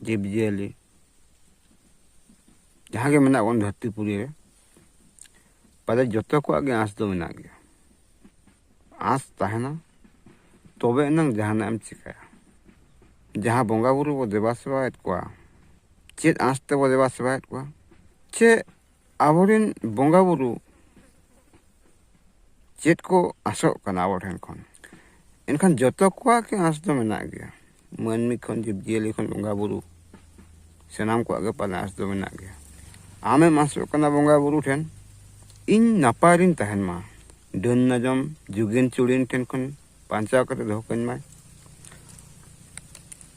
ᱡᱤᱵᱽ ᱡᱤᱭᱟᱹᱞᱤ ᱡᱟᱦᱟᱸ ᱜᱮ ᱢᱮᱱᱟᱜ ᱵᱚᱱ ᱫᱷᱟᱹᱨᱛᱤ ᱯᱩᱨᱤ ᱨᱮ ᱯᱟᱞᱮ ᱡᱚᱛᱚ ᱠᱚᱣᱟᱜ ᱜᱮ ᱟᱸᱥ ᱫᱚ ᱢᱮᱱᱟᱜ ᱜᱮᱭᱟ ᱟᱸᱥ ᱛᱟᱦᱮᱱᱟ ᱛᱚᱵᱮ ᱮᱱᱟᱝ ᱡᱟᱦᱟᱱᱟᱜ ᱮᱢ ᱪᱤᱠᱟᱹᱭᱟ ᱡᱟᱦᱟᱸ ᱵᱚᱸᱜᱟ ᱵᱩᱨᱩ ᱵᱚ ᱫᱮᱵᱟ ᱥᱮᱵᱟᱭᱮᱫ ᱠᱚᱣᱟ ᱪᱮᱫ ᱟᱸᱥ ᱛᱮᱵᱚ ᱫᱮᱵᱟ ᱥᱮᱵᱟᱭᱮᱫ ᱠᱚᱣᱟ ᱪᱮᱫ ᱟᱵᱚᱨᱮᱱ ᱵᱚᱸᱜᱟ ᱵᱩᱨᱩ ᱪᱮᱫ ᱠᱚ ᱟᱥᱚᱜ ᱠᱟᱱᱟ ᱟᱵᱚ ᱴᱷᱮᱱ ᱠᱷᱚᱱ ᱮᱱᱠᱷᱟᱱ ᱡᱚᱛᱚ ᱠᱚᱣᱟᱜ ᱜᱮ ᱟᱸᱥ ᱫᱚ ᱢᱮᱱᱟᱜ ᱜᱮᱭᱟ ᱢᱟᱹᱱᱢᱤ ᱠᱷᱚᱱ ᱡᱤᱵᱽᱼᱡᱤᱭᱟᱹᱞᱤ ᱠᱷᱚᱱ ᱵᱚᱸᱜᱟ ᱵᱩᱨᱩ ᱥᱟᱱᱟᱢ ᱠᱚᱣᱟᱜ ᱜᱮ ᱯᱟᱞᱮ ᱟᱸᱥ ᱫᱚ ᱢᱮᱱᱟᱜ ᱜᱮᱭᱟ ᱟᱢᱮᱢ ᱟᱸᱥᱚᱜ ᱠᱟᱱᱟ ᱵᱚᱸᱜᱟ ᱵᱩᱨᱩ ᱴᱷᱮᱱ ᱤᱧ ᱱᱟᱯᱟᱭ ᱨᱤᱧ ᱛᱟᱦᱮᱱ ᱢᱟ ᱰᱟᱹᱱ ᱱᱟᱡᱚᱢ ᱡᱩᱜᱤᱱ ᱪᱩᱲᱤᱱ ᱴᱷᱮᱱ ᱠᱷᱚᱱ ᱵᱟᱧᱪᱟᱣ ᱠᱟᱛᱮ ᱫᱚᱦᱚ ᱠᱟᱹᱧ ᱢᱟᱭ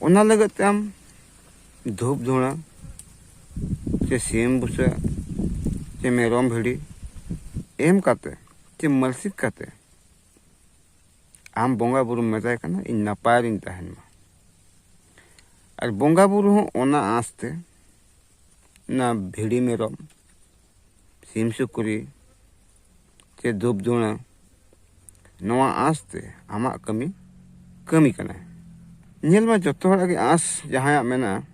ᱚᱱᱟ ᱞᱟᱹᱜᱤᱫ ᱛᱮ ᱟᱢ ᱫᱷᱩᱯ ᱫᱷᱩᱬᱟ ᱥᱮ ᱥᱤᱢ ᱵᱩᱥᱟᱹᱜ ᱥᱮ ᱢᱮᱨᱚᱢ ᱵᱷᱤᱲᱤ ᱮᱢ ᱠᱟᱛᱮ ᱥᱮ ᱢᱟᱹᱞᱥᱤᱠ ᱠᱟᱛᱮ ᱟᱢ ᱵᱚᱸᱜᱟ ᱵᱩᱨᱩᱢ ᱢᱮᱛᱟᱭ ᱠᱟᱱᱟ ᱤᱧ ᱱᱟᱯᱟᱭ ᱨᱤᱧ ᱛᱟᱦᱮᱱ ᱢᱟ ᱟᱨ ᱵᱚᱸᱜᱟ ᱵᱩᱨᱩ ᱦᱚᱸ ᱚᱱᱟ ᱟᱸᱥᱛᱮ ᱚᱱᱟ ᱵᱷᱤᱲᱤ ᱢᱮᱨᱚᱢ ᱥᱤᱢ ᱥᱩᱠᱨᱤ ᱪᱮ ᱫᱷᱩᱯ ᱫᱷᱩᱬᱟᱹ ᱱᱚᱣᱟ ᱟᱸᱥ ᱛᱮ ᱟᱢᱟᱜ ᱠᱟᱹᱢᱤ ᱠᱟᱹᱢᱤ ᱠᱟᱱᱟᱭ ᱧᱮᱞ ᱢᱟ ᱡᱚᱛᱚ ᱦᱚᱲᱟᱜ ᱜᱮ ᱟᱸᱥ ᱡᱟᱦᱟᱸᱭᱟᱜ ᱢᱮᱱᱟᱜᱼᱟ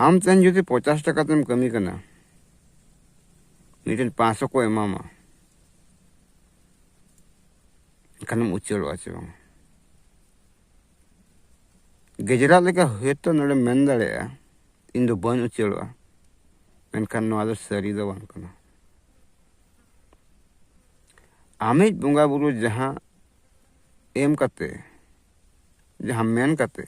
ᱟᱢ ᱛᱮᱦᱮᱧ ᱡᱩᱫᱤ ᱯᱚᱪᱟᱥ ᱴᱟᱠᱟ ᱛᱮᱢ ᱠᱟᱹᱢᱤ ᱠᱟᱱᱟ ᱢᱤᱫᱴᱮᱱ ᱯᱟᱸᱪᱥᱚ ᱠᱚ ᱮᱢᱟᱢᱟ ᱮᱱᱠᱷᱟᱱᱮᱢ ᱩᱪᱟᱹᱲᱚᱜᱼᱟ ᱪᱮ ᱵᱟᱝ ᱜᱮᱡᱽᱨᱟᱜ ᱞᱮᱠᱟ ᱦᱳᱭᱛᱳ ᱱᱚᱰᱮ ᱢᱮᱱ ᱫᱟᱲᱮᱭᱟᱜᱼᱟ ᱤᱧ ᱫᱚ ᱵᱟᱹᱧ ᱩᱪᱟᱹᱲᱚᱜᱼᱟ ᱢᱮᱱᱠᱷᱟᱱ ᱱᱚᱣᱟ ᱫᱚ ᱥᱟᱹᱨᱤ ᱫᱚ ᱵᱟᱝ ᱠᱟᱱᱟ ᱟᱢᱤᱡ ᱵᱚᱸᱜᱟ ᱵᱩᱨᱩ ᱡᱟᱦᱟᱸ ᱮᱢ ᱠᱟᱛᱮ ᱡᱟᱦᱟᱸ ᱢᱮᱱ ᱠᱟᱛᱮ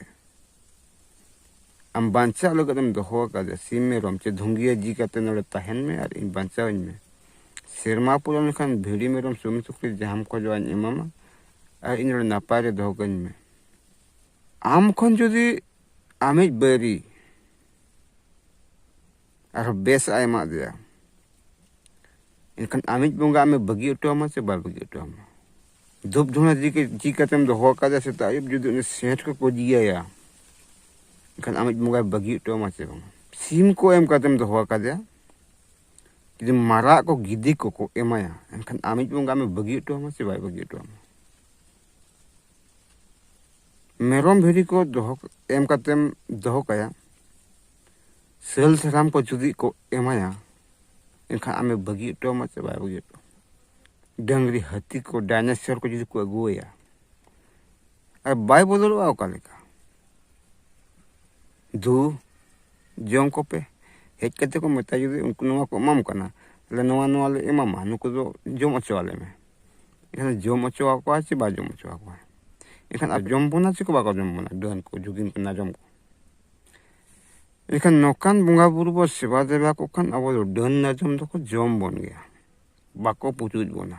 ᱟᱢ ᱵᱟᱧᱪᱟᱜ ᱞᱟᱹᱜᱤᱫ ᱮᱢ ᱫᱚᱦᱚ ᱟᱠᱟᱫᱮ ᱥᱤᱢ ᱢᱮᱨᱚᱢ ᱪᱮ ᱫᱷᱩᱝᱜᱤᱭᱟᱹ ᱡᱤ ᱠᱟᱛᱮ ᱱᱚᱰᱮ ᱛᱟᱦᱮᱱ ᱢᱮ ᱟᱨ ᱤᱧ ᱵᱟᱧᱪᱟᱣᱤᱧ ᱢᱮ ᱥᱮᱨᱢᱟ ᱯᱩᱨᱟᱹᱣ ᱞᱮᱱᱠᱷᱟᱱ ᱵᱷᱤᱲᱤ ᱢᱮᱨᱚᱢ ᱥᱩᱢᱤ ᱥᱩᱠᱨᱤ ᱡᱟᱦᱟᱸᱢ ᱠᱷᱚᱡᱚᱜᱼᱟᱧ ᱮᱢᱟᱢᱟ ᱟᱨ ᱤᱧ ᱱᱚᱰᱮ ᱱᱟᱯᱟᱭ ᱨᱮ ᱫᱚᱦᱚ ᱠᱟᱹᱧ ᱢᱮ ᱟᱢ ᱠᱷᱚᱱ ᱡᱩᱫᱤ ᱟᱢᱤᱡ ᱵᱟᱹᱨᱤ ᱟᱨᱦᱚᱸ ᱵᱮᱥ ᱟᱭ ᱮᱢᱟᱜ ᱫᱮᱭᱟ ᱮᱱᱠᱷᱟᱱ ᱟᱢᱤᱡ ᱵᱚᱸᱜᱟ ᱟᱢᱮ ᱵᱟᱹᱜᱤ ᱦᱚᱴᱚ ᱟᱢᱟ ᱥᱮ ᱵᱟᱭ ᱵᱟᱹᱜᱤ ᱦᱚᱴᱚ ᱟᱢᱟ ᱫᱷᱩᱯ ᱫᱷᱩᱬᱟ ᱡᱤ ᱠᱟᱛᱮᱢ ᱫᱚᱦᱚ ᱟᱠᱟᱫᱟ ᱥᱮᱛᱟᱜ ᱟᱹᱭᱩᱵ ᱡᱩᱫᱤ ᱩᱱᱤ ᱥᱮᱸᱴ ᱠᱚ ᱯᱩᱡᱤᱭᱟᱭᱟ ᱮᱱᱠᱷᱟᱱ ᱟᱢᱤᱡ ᱵᱚᱸᱜᱟᱭ ᱵᱟᱹᱜᱤ ᱦᱚᱴᱚ ᱟᱢᱟ ᱥᱮ ᱵᱟᱝ ᱥᱤᱢ ᱠᱚ ᱮᱢ ᱠᱟᱛᱮᱢ ᱫᱚᱦᱚ ᱟᱠᱟᱫᱮᱭᱟ ᱡᱩᱫᱤ ᱢᱟᱨᱟᱜ ᱠᱚ ᱜᱤᱫᱤ ᱠᱚᱠᱚ ᱮᱢᱟᱭᱟ ᱮᱱᱠᱷᱟᱱ ᱟᱢᱤᱡ ᱵᱚᱸᱜᱟ ᱟᱢᱮ ᱵᱟᱹᱜᱤ ᱦᱚᱴᱚ ᱟᱢᱟ ᱥᱮ ᱵᱟᱭ ᱵᱟᱹᱜᱤ ᱦᱚᱴᱚ ᱟᱢᱟ ᱢᱮᱨᱚᱢ ᱵᱷᱤᱰᱤ ᱠᱚ ᱫᱚᱦᱚ ᱮᱢ ᱠᱟᱛᱮᱢ ᱫᱚᱦᱚ ᱠᱟᱭᱟ ᱥᱟᱹᱞ ᱥᱟᱨᱟᱢ ᱠᱚ ᱡᱩᱫᱤ ᱠᱚ ᱮᱢᱟᱭᱟ ᱮᱱᱠᱷᱟᱱ ᱟᱢᱮ ᱵᱟᱹᱜᱤ ᱦᱚᱴᱚ ᱟᱢᱟ ᱥᱮ ᱵᱟᱭ ᱵᱟᱹᱜᱤ ᱦᱚᱴᱚ ᱰᱟᱹᱝᱨᱤ ᱦᱟᱹᱛᱤ ᱠᱚ ᱰᱟᱭᱱᱮᱥᱚᱨ ᱠᱚ ᱡᱩᱫᱤ ᱠᱚ ᱟᱹᱜᱩᱣᱟᱭᱟ ᱟᱨ ᱵᱟᱭ ᱵᱚᱫᱚᱞᱚᱜᱼᱟ ᱚᱠᱟ ᱞᱮᱠᱟ ᱫᱩ ᱡᱚᱢ ᱠᱚᱯᱮ ᱦᱮᱡ ᱠᱟᱛᱮ ᱠᱚ ᱢᱮᱛᱟ ᱡᱩᱫᱤ ᱩᱱᱠᱩ ᱱᱚᱣᱟ ᱠᱚ ᱮᱢᱟᱢ ᱠᱟᱱᱟ ᱛᱟᱦᱞᱮ ᱱᱚᱣᱟ ᱱᱚᱣᱟ ᱞᱮ ᱮᱢᱟᱢᱟ ᱱᱩᱠᱩ ᱫᱚ ᱡᱚᱢ ᱦᱚᱪᱚ ᱟᱞᱮ ᱢᱮ ᱮᱱᱠᱷᱟᱱ ᱡᱚᱢ ᱦᱚᱪᱚ ᱟᱠᱚᱣᱟ ᱥᱮ ᱵᱟᱭ ᱡᱚᱢ ᱦᱚᱪᱚ ᱟᱠᱚᱣᱟ ᱮᱱᱠᱷᱟᱱ ᱟᱨ ᱡᱚᱢ ᱵᱚᱱᱟ ᱥᱮᱠᱚ ᱵᱟᱠᱚ ᱡᱚᱢ ᱵᱚᱱᱟ ᱰᱟᱹᱱ ᱠᱚ ᱡᱩᱜᱤᱱ ᱠᱚ ᱱᱟᱡᱚᱢ ᱠᱚ ᱮᱱᱠᱷᱟᱱ ᱱᱚᱝᱠᱟᱱ ᱵᱚᱸᱜᱟ ᱵᱩᱨᱩ ᱵᱚ ᱥᱮᱵᱟ ᱫᱮᱵᱟ ᱠᱚ ᱠᱷᱟᱱ ᱟᱵᱚ ᱫᱚ ᱰᱟᱹᱱ ᱱᱟᱡᱚᱢ ᱫᱚᱠᱚ ᱡᱚᱢ ᱵᱚᱱ ᱜᱮᱭᱟ ᱵᱟᱠᱚ ᱯᱩᱪᱩᱡ ᱵᱚᱱᱟ